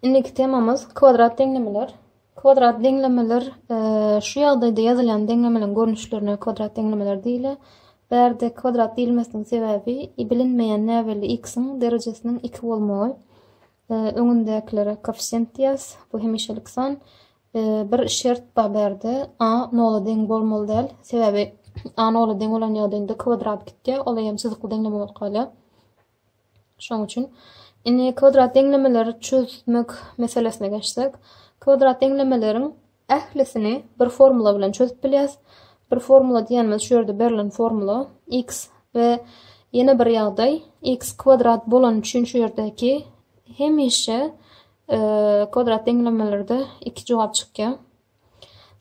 Indiki temamyz kwadrat deňlemeler. Kwadrat deňlemeler şu ýagdaýda ýazylýan deňlemeleň görnüşlerine kwadrat deňlemeler diýilýär. Bärde kwadrat diýilmesiniň sebäbi bilinmeýän näbelli x-iň derejesiniň 2 bolmagy. Öňündäkilere koeffisient diýýäs. Bu hemişelik san. Bir şert bar bärde. A nola deň bolmaly däl. Sebäbi a nola deň bolan ýagdaýynda kwadrat gitýär. Ol eýýäm çyzykly deňleme bolup galýar. Şonuň üçin, indi kwadrat deňlemeleri çözmek meselesine geçsek, kwadrat deňlemeleriň ählisini bir formula bilen çözüp bilýäs. Bir formula diýenimiz şu ýerde berlen formula x we ýene bir ýagdaý x kwadrat bolany üçin şu ýerdäki hemişe e, kwadrat deňlemelerde iki jogap çykýar.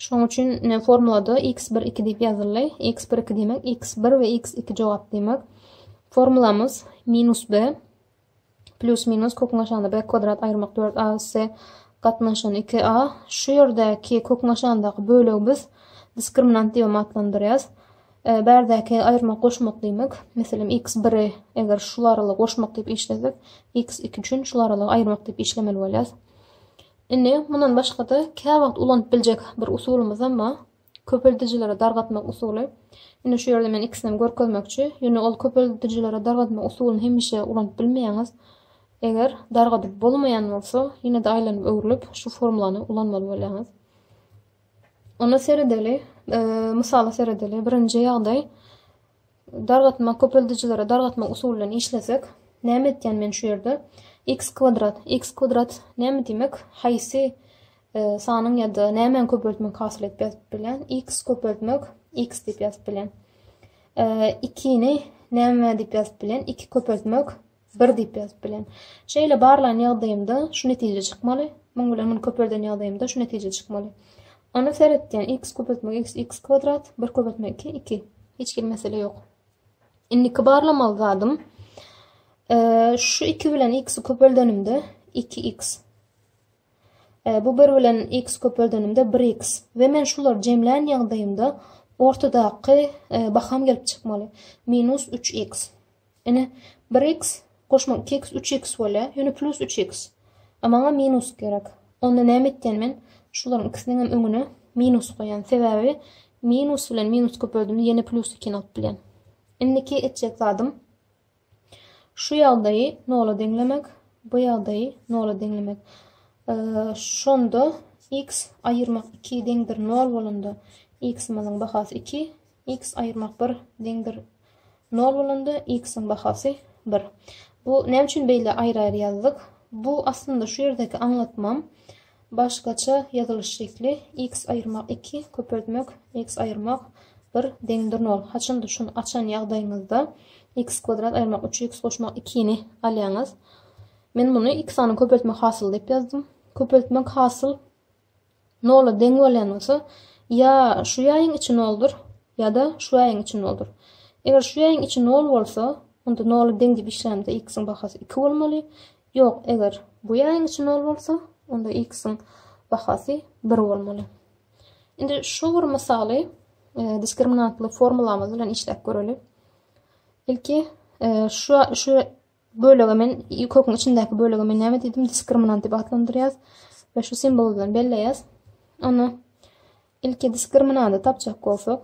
Şonuň üçin formulada x bir iki diýip ýazyldy. x bir iki diýmek x bir we x iki jogap diýmek. Formulamyz minus b plus minus köküň aşagynda b kwadrat aýyrmak 4 a üsse gatnaşan 2 a. Şu ýerdäki köküň aşagyndaky bölegi biz diskriminant diýip atlandyrýas. E, bärdäki aýyrmak goşmak diýmek. Meselem x biri eger şu aralygy goşmak diýip işlesek, x iki üçin şu aralygy aýyrmak diýip işlemeli bolýas. Indi, mundan başga-da, käwagt ulanyp biljek bir usulymyzam bar. Köpeldijilere dargatmak usuly. Indi şu ýerde men ikisinem görkezmekçi. Ýöne ol köpeldijilere dargatmak usulyny hemişe ulanyp bilmeýäňiz. Eger dargadyp bolmaýan bolsa, ýene-de aýlanyp-öwrülip şu formulany ulanmaly bolýaňyz. Onda seredeli, mysala seredeli. Birinji ýagdaý, Dargatma köpeldijilere dargatma usuly bilen işlesek näme etýän men şu ýerde x kwadrat x kwadrat näme diýmek haýsy sanyň ýa-da nämäni köpeltmek hasyl edip ýazyp bilýän x köpeltmek x diýip ýazyp bilýän 2 ni näme diýip ýazyp bilýän 2 köpeltmek Bir diýip ýazyp bilen. Şeýle barlan ýagdaýymda şu netije çykmaly, muň bilen muny köpelden ýagdaýymda şu netije çykmaly. Ony seretýän x köpeltme x x kwadrat, 1 köpeltme 2 2. Hiç hili mesele ýok. Indiki barlamaly zadym şu 2 bilen x-i köpeldenimde 2x. E, bu 1 bilen x köpeldenimde 1x. Ve men şular jemlän ýagdaýymda ortadaky e, baham gelip çykmaly. Minus 3x. Ine, bir x goşmak iki x, üç x bolýar. Ýöne plus üç x. A maňa minus gerek. Onda näme etýän men? Şularyň ikisiniň hem öňüne minus goýýan. Sebäbi minus bilen minus köpeldimde ýene plus ikini alyp bilýän. Indiki etjek zadym şu ýagdaýy nola deňlemek, bu ýagdaýy nola deňlemek. Şonda x aýyrmak 2 deňdir 0 bolanda x-imiziň bahasy 2, X aýyrmak bir, deňdir nol bolanda x-iň bahasy bir. Bu näme üçin beýle aýry-aýry ýazdyk? Bu aslynda şu ýerdäki aňlatmam başgaça ýazylyş şekli x aýyrmak iki, köpeltmek x aýyrmak bir, deňdir nol. Haçanda şuny açan ýagdaýyňyzda x kwadrat aýyrmak üç, x goşmak ikini alýaňyz. Men muny x sanyny köpeltmek hasyly diýip ýazdym. Köpeltmek hasyl Nola deň bolýan bolsa, ýa şu ýaýyň içi noldur, ýa-da şu ýaýyň içi noldur. Eger şu ýaýyň içi nol bolsa, onda nola deň diýip işlämizde x-iň bahasy iki bolmaly. Ýok, eger bu ýaýyň içi nol bolsa, onda x-iň bahasy bir bolmaly. Indi şu bir mysaly e, diskriminantly formulamyz bilen işläp göreli. Ilki e, şu şu Bölege men köküň içindäki bölege men näme diýdim? Diskriminant diýip atlandyrýas we şu simwol bilen belleýäs. Onda ilki diskriminanty tapjak bolsak,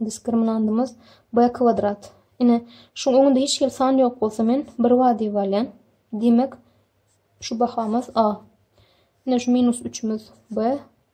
diskriminantymyz b kwadrat. Ine, şu öňünde hiç hili san ýok bolsa men 1 bar diýip alýan. Diýmek, şu bahamyz a. Ine şu minus 3-ümiz b.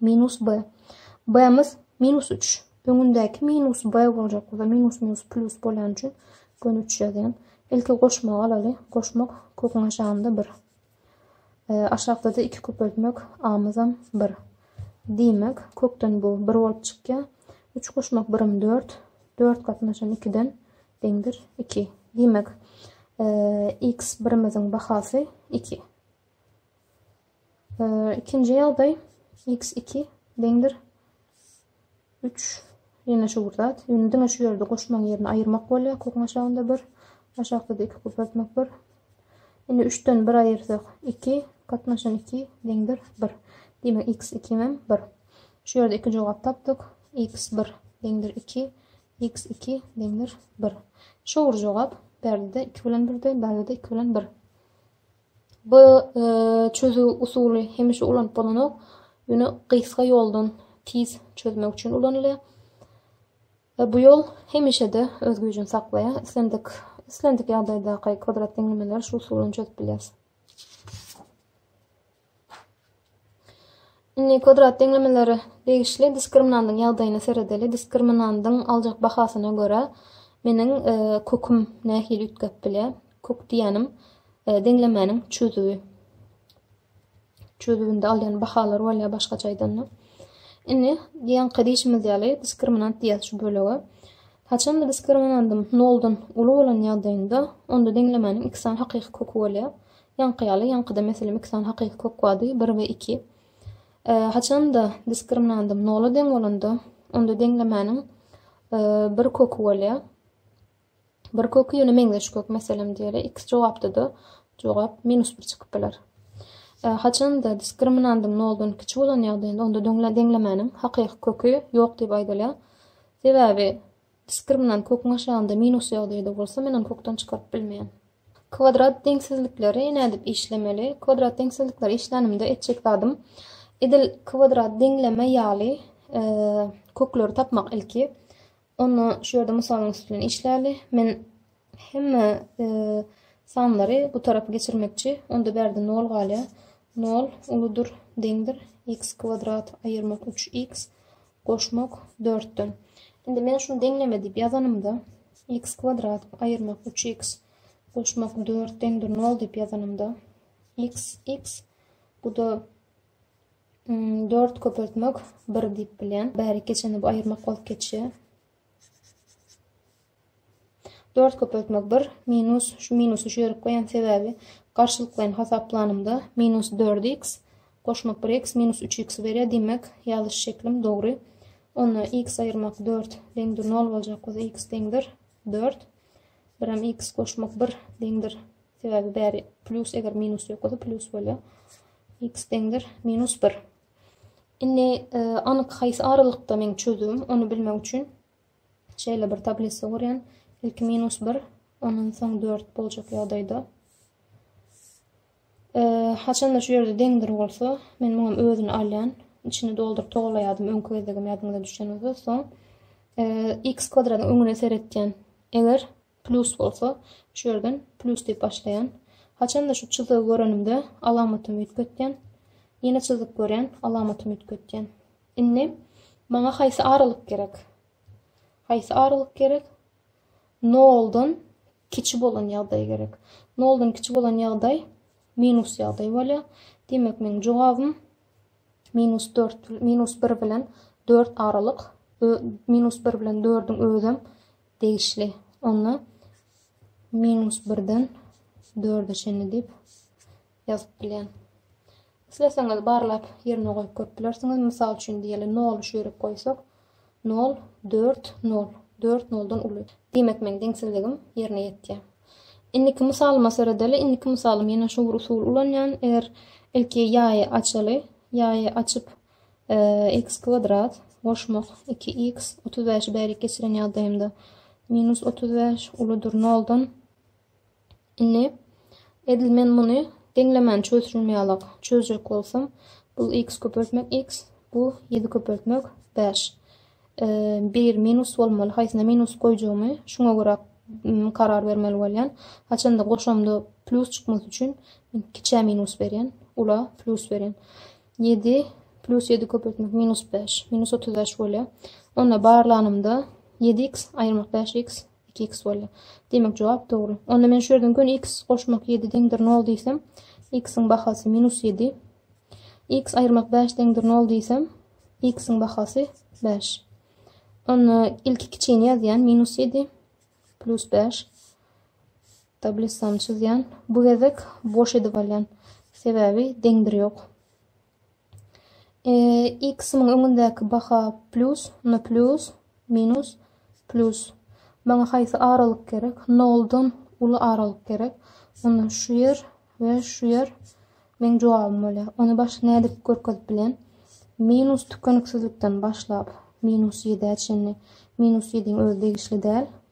Minus B. B-miz minus üç. Öňündäki minus B boljak bolsa, minus minus plus bolýany üçin göni üç ýazýan. Ilki goşmagy alaly. Goşmak köküň aşagynda bir. E, aşakda-da iki köpeltmek A-myzam bir. Diýmek, kökden bu bir bolup çykýar. Üç goşmak birim dört. Dört gatnaşan ikiden deňdir iki. Diýmek, e, x birimiziň bahasy iki. Ikinji ýagdaý x iki deňdir üç ýene şu bir zat. Ýöne diňe şu ýerde goşmaň ýerini aýyrmak bolýar. Kukuň aşagynda bir, aşakda-da iki köpeltmek bir. Indi üçden bir aýyrsak iki, gatnaşan iki deňdir bir. Diýmek x iki hem bir. Şu ýerde iki jogap tapdyk. x bir deňdir iki, x iki deňdir bir. Şowur jogap. Berde iki bilen birde, berde iki bilen bir. Bu çözüw usuly hemişe ulanyp bolanok, ýöne gysga ýoldan tiz çözmek üçin ulanylýar. Bu ýol hemişe-de öz güýjüni saklaýar, islendik islendik ýagdaýdaky kwadrat deňlemeleri şu usul bilen çözüp bilýäris. Indi kwadrat deňlemelere degişli diskriminandyň ýagdaýyna seredeli. Diskriminandyň aljak bahasyna görä, meniň köküm nähili üýtgäp bilýär? Kök diýýänim deňlemäniň çözüwi. Çözüwinde alýan bahalary bolýar başgaça aýdanda. Indi ýaňky diýşimiz ýaly diskriminant diýýäs şu bölege. Haçanda diskriminandym noldan uly bolan ýagdaýynda, onda deňlemäniň iki sany hakyky köki bolýar. Ýaňky ýaly, ýaňkyda mesele miksan hakyky kök bady, bir we iki. Haçan-da diskriminandym nola deň bolanda, onda deňlemäniň bir köki bolýar. Bir köki ýöne meňzeş kök, meselem diýeli, iki jogapda-da jogap minus bir çykyp biler. Haçan-da diskriminandym noldan kiçi bolan ýagdaýynda, onda deňlemäniň hakyky köki ýok diýip aýdylýar. Sebäbi diskriminant köküň aşagynda minus ýagdaýda bolsa, men ony kökden çykaryp bilmeýän. Kwadrat deňsizlikleri nädip işlemeli? Kwadrat deňsizlikleri işlänimde etjek zadym edil kwadrat deňleme ýaly kökleri tapmak ilki. Onda şu ýerde mysalyň üsti bilen işläli. Men hemme sanlary bu tarapa geçirmekçi. Onda bärde 0 galýar. 0 uludyr, deňdir x kwadrat aýyrmak 3x Goşmak, dörtden. Indi men şuny deňleme diýip ýazanymda, x kwadrat aýyrmak üç x goşmak dört deňdir nol diýip ýazanymda, x, x, bu-da hmm, dört köpeltmek bir diýip bilýän. Bärik geçende bu aýyrmak bolup geçýär. Dört köpeltme bir, minus, şu minusy şu ýere goýan sebäbi garşylyklaýyn hasaplanymda minus dört x goşmak bir x minus üç x berýär, diýmek ýazyş şeklim dogry. Onda x aýyrmak dört deňdir nol boljak bolsa x deňdir dört. Biram x goşmak bir deňdir sebäbi bäri plus eger minus ýok bolsa plus bolýar. x deňdir minus bir. Indi e, anyk haýsy aralykda meň çözüwim ony bilmek üçin Şeýle bir tablisa gurýan. Ilki minus bir, ondan soň dört boljak ýagdaýda. Haçanda şu ýerde deňdir bolsa, men muňam özüni alýan. Içini dolduryp togalaýadym öňki gezegem ýadyňyza düşen bolsa. Soň x kwadradyň öňüne seretýän. Eger Plus bolsa, şu ýerden plus diýip başlaýan. Haçanda şu çyzygy görenimde alamatymy üýtgetýän. Ýene çyzyk görýän, alamatymy üýtgetýän. Indi maňa haýsy aralyk gerek? Haýsy aralyk gerek? Noldan kiçi bolan ýagdaý gerek. Noldan kiçi bolan ýagdaý minus ýagdaý bolýar. Diýmek, meniň jogabym minus 4, minus 1 bilen 4 aralyk, minus 1 bilen 4-üň özem degişli. Onda minus birden dörde çenli diýip ýazyp bilýän. Isleseňiz barlap ýerine goýup görüp bilersiňiz. Mysal üçin diýeli noly şu ýere goýsak, nol, dört, nol. Dört noldan uly. Diýmek meň deňsizligim ýerine ýetýär. Indiki mysalyma seredeli. Indiki mysalym ýene şu bir usuly ulanýan. Eger ilki ýaýy açaly, ýaýy açyp X kwadrat goşmak iki x otuz bäşi bärik geçiren ýagdaýymda minus otuz bäş uludyr noldan indi edil men muny deňlemän çözüşim ýalak çözjek bolsam bu x köpeltmek x bu ýedi köpeltmek bäş bir minus bolmaly haýsyna minus goýjagymy şuňa görä karar bermeli bolýan. Haçanda goşamda plus çykmasy üçin kiçä minus berýän, ula plus berýän. Ýedi plus ýedi köpeltmek minus bäş, minus otuz bäş bolýar. Onda barlanymda ýedi x aýyrmak bäş x, iki x bolýar. Diýmek, jogap dogry. Onda men şu ýerden göni x goşmak ýedi deňdir nol diýsem, x-iň bahasy minus ýedi. X aýyrmak bäş deňdir nol diýsem, x-iň bahasy bäş. Onda ilki kiçini ýazýan minus ýedi plus bäş. Tablissany çyzýan. Bu gezek boş edip alýan. Sebäbi deňdir ýok. E, x-iň öňündäki baha plus, no plus, minus, plus. Maňa haýsy aralyk gerek? Noldan uly aralyk gerek. Onda şu ýer we şu ýer meň jogabym bolýar. Ony başga nädip görkezip bilen? Minus tükeniksizlikden başlap, minus 7-ä çenli. Minus 7-iň özi degişli däl.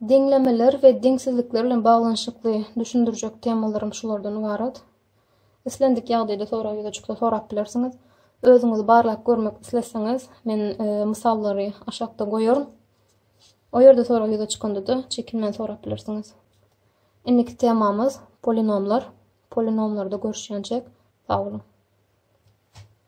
Deňlemeler we deňsizlikler bilen baglanyşykly düşündirjek temalarym şulardan ybarat. Islendik ýagdaýda sorag ýüze çyksa sorap bilersiňiz. Özüňizi barlap görmek isleseňiz, men e, mysallary aşakda goýaryn. O ýerde sorag ýüze çykanda-da çekinmän sorap bilersiňiz. Indiki temamyz polinomlar. Polinomlarda görüşýänçek. Sag boluň.